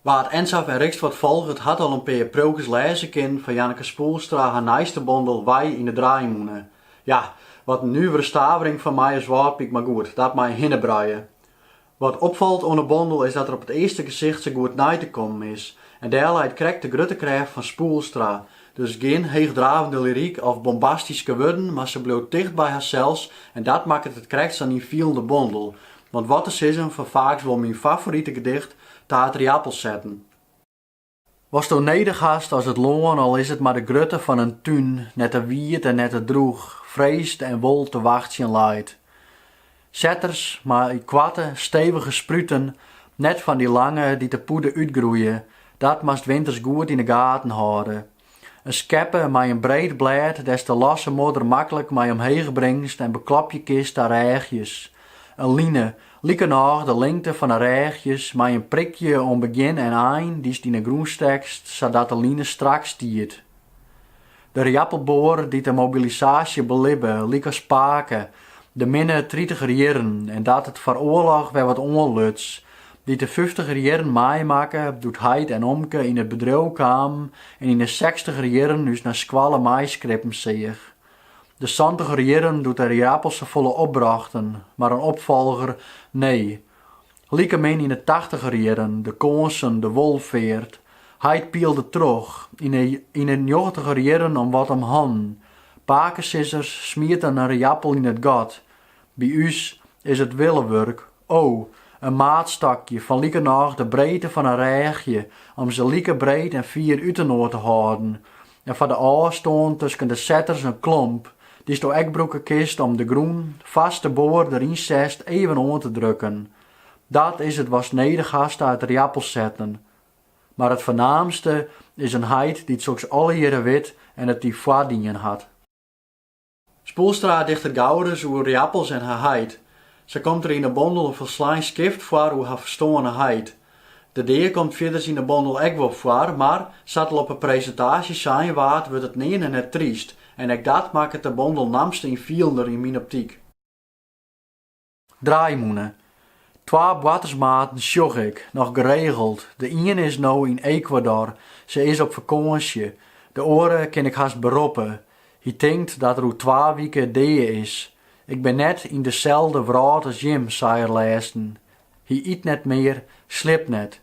Wa't Ensafh en Rixt wat folget hat al in pear priuwkes lêze kinnen fan Janneke Spoelstra har nijste bondel Wei yn de draaimûne. Ja, wat in nuvere stavering fan my as Wâldpyk, mar goed, dat mei in hinnebruie. Wat opfalt oan 'e bondel is dat er op it earste gesicht sa goed nei te kommen is. En dêr leit krekt de grutte krêft fan Spoelstra, Dus gjin heechdravende lyryk of bombastyske wurden, mar se bliuwt ticht by harsels en dat makket it krekt sa'n ynfielende bondel. Want wat te sizzen fan faaks wol myn favorite gedicht ta it rjappelsetten. Watsto nedich hast as it lân, al is it mar de grutte fan in tún, net te wiet en net te droech, freesd en wol te wachtsjen leit. Setters mei koarte, stevige spruten, net fan dy lange dy't de pûde útgroeie, dat moatst winters goed yn de gaten hâlde. In skeppe mei in breed blêd dêr'tst de losse modder maklik mei omheech bringst en beklopje kinst ta rêchjes. In line, likernôch de lingte fan 'e rêchjes, mei in prikje oan begjin en ein dy'tst yn 'e grûn stekst sadat de line strak stiet. De rjappelboar dy't de mobilisaasje belibbe, lykas pake, de minne tritiger jierren en dat it foar d'oarloch wer wat oanluts, dy't de fyftiger jierren meimakke doe't heit en omke yn it bedriuw kamen en yn de sekstiger jierren ús nei skoalle meiskrippen seach. De santiger jierren doe't de rjappels sa folle opbrochten, mar in opfolger, nee, Likemin yn 'e tachtiger jierren de kânsen, de wolfeart, heit pielde troch yn 'e njoggentiger jierren om wat om hannen. Pakesizzers smieten in rjappel yn it gat. By ús is it willewurk, o, in maatstokje fan likernôch de breedte fan in rêchje om se like breed en fier útinoar te hâlden. en foar de ôfstân tusken de setters in klomp, dy'sto ek brûke kinst om de grûn foarst de boar deryn setst even oan te drukken. Dat is it watst nedich hast ta it rjappelsetten. Mar it fernaamste is in heit dy't soks allegearre wit en it dy foardien hat. Spoelstra dichtet gau ris oer rjappels en har heit. Sa komt der yn 'e bondel in folslein skift foar oer har ferstoarne heit. De dea komt fierders yn 'e bondel ek wol foar, mar, sa't al op 'e presintaasje sein waard, wurdt it nearne net tryst. En ek dat makket de bondel namste ynfielender yn myn optyk. Draaimûne. Twa boartersmaten sjoch ik noch geregeld. De iene is no yn Ekwador, se is op fakânsje. De oare kin ik hast beroppe. Hy tinkt dat er oer twa wike dea is. Ik bin net yn deselde wrâld as jim, sei er lêsten. Hy yt net mear, sliept net.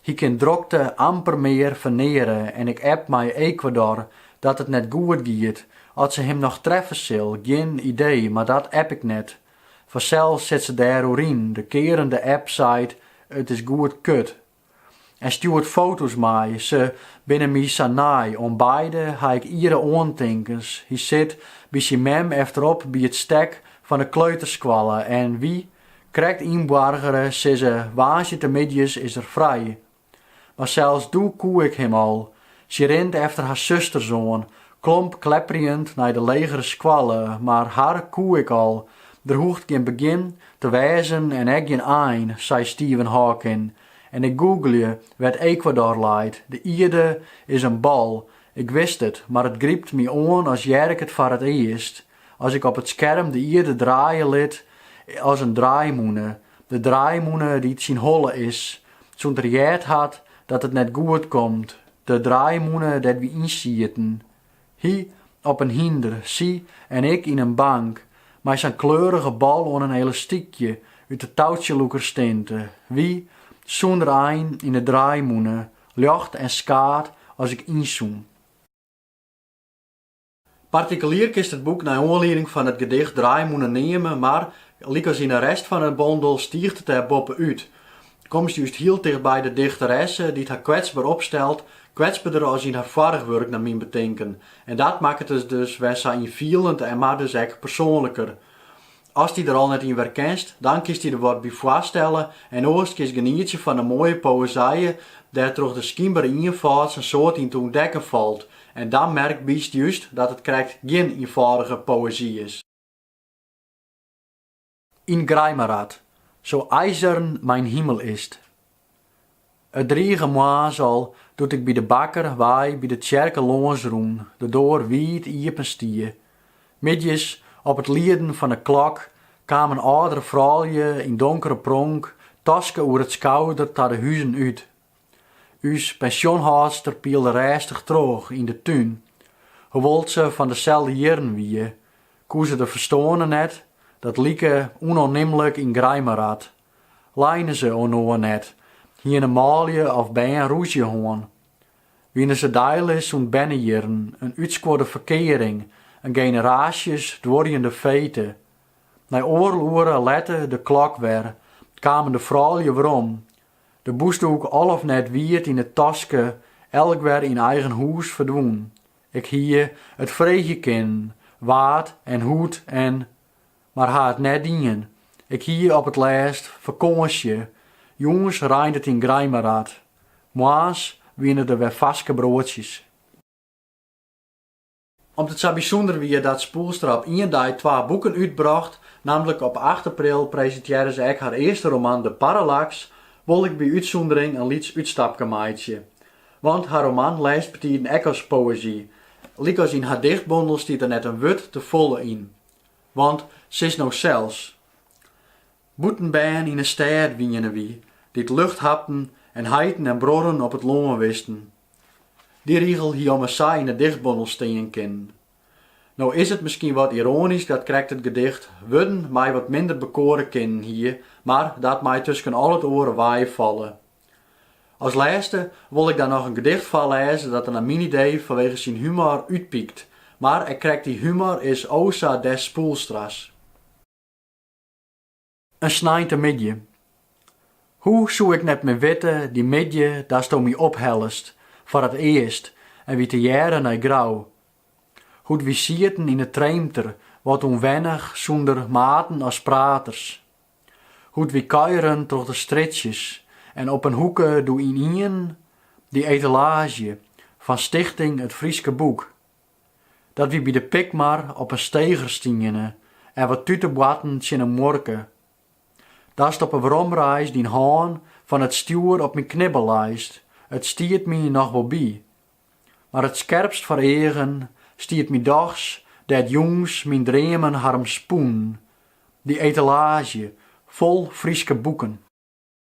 Hy kin drokte amper mear ferneare en ik app mei Ekwador dat it net goed giet. Oft se him noch treffe sil, gjin idee, mar dat app ik net. Fansels sit se dêr oer yn, de kearende app seit, it is goed kut. En stjoert foto's mei, se binne my sa nei, oan beide ha ik iere oantinkens, hy sit by syn mem efterop by it stek fan de kleuterskoalle en wy, krekt ynboargere, sizze, woansdeitemiddeis is er frij, Mar sels doe koe ik him al. Sy rint efter har susters oan, klomp klepperjend nei de legere skoalle, mar har koe ik al. Der hoecht gjin begjin te wêzen en ek gjin ein, sei Stephen Hawking. En ik googlje wêr't Ecuador leit. De ierde is in bal. Ik wist it, mar it grypt my oan as hear ik it foar it earst. As ik op it skerm de ierde draaie lit as in draaimûne, De draaimûne dy't syn holle is, sûnt er heard hat dat it net goed komt, de draaimûne dêr't wy yn sieten, hy op in hynder, sy en ik yn in bank, mei sa'n kleurige bal oan in elastykje út 'e toutsjelûkerstinte, wy, sûnder ein, yn 'e draaimûne, ljocht en skaad as ik ynzoom. Partikelier kinst it boek nei oanlieding fan it gedicht Draaimûne neame, mar, lykas yn 'e rest fan 'e bondel, stiicht it dêr boppe út. Komst just hiel tichtby de dichteresse, dy't har kwetsber opstelt, kwetsberder as yn har foarich wurk nei myn betinken. En dat makket it dus wer sa ynfielend en mar dus ek persoanliker. Ast dy der al net yn werkenst, dan kinst dy der wat by foarstelle en oars kinst genietsje fan de moaie poëzije dêr't troch de skynbere ienfâld sa'n soad yn te ûntdekken falt en dan merkbytst just dat it krekt gjin ienfâldige poëzy is. Yn Greimerath, So eisern mein Himmel ist, It drige moarns al, doe't ik by de bakker wei by de tsjerke lâns rûn, de doar wiid iepen stie. Middeis, op it lieden fan 'e klok, kamen âldere froulju yn donkere pronk, taske oer it skouder ta de huzen út. Us pensjonhâldster pielde rêstich troch yn de tún. Hoewol't se fan deselde jierren wie, koe se de ferstoarne net, dat like ûnoannimlik yn Greimerath, Leine se inoar net, hiene manlju of bern rûzje hân, wiene se deilis sûnt bernejierren, in útskuorde ferkearing, in generaasjes duorjende fete. Nei oardel oere lette de klok wer, kamen de froulju werom, de bûsdoek al of net wiet yn it taske, elk wer yn eigen hûs ferdwûn. Ik hie it freegje kinnen, wa't en hoe't en. Mar ha it net dien. Ik hie op it lêst fakânsje. Jûns reint it yn Greimerath. Moarns wiene der wer farske broadsjes. Om't it sa bysûnder wie dat Spoelstra op ien dei twa boeken útbrocht, nammentlik op acht april presintearre se ek har earste roman De parallaks, wol ik by útsûndering in lyts útstapke meitsje. Want har roman lêst betiden ek as poëzy. Lykas yn har dichtbondel stiet der net in wurd te folle yn. Want sis no sels. Bûtenbern yn 'e stêd wiene wy, dy't lucht hapten en heiten en bruorren op it lân wisten. Dy rigel hie ommers sa yn 'e dichtbondel stean kinnen. No is it miskien wat iroanysk dat krekt it gedicht Wurden my wat minder bekoare kinnen hie, mar dat mei tusken al it oare weifalle. As lêste wol ik dan noch in gedicht foarlêze dat der nei myn idee fanwege syn humor útpykt. Mar ek krekt dy humor is o sa des Spoelstra's. In sneintemiddei. Hoe soe ik net mear witte dy middei datsto my ophellest foar it earst en wy tegearre nei Grou. Hoe't wy sieten yn 'e Treemter, wat ûnwennich sûnder maten as praters. Hoe't wy kuieren troch de strjitsjes en op in hoeke doe ynienen dy etalaazje fan Stichting It Fryske Boek. Dat wy by de Pikmar op in steger stiene en wat tute boarten tsjin 'e muorke. Datst op 'e weromreis dyn hân fan it stjoer op myn knibbel leist, it stiet my noch wol by, Mar it skerpst foar eagen stiet my dochs dêr't jûns myn dreamen har om spûnen, dy etalaazje fol Fryske boeken.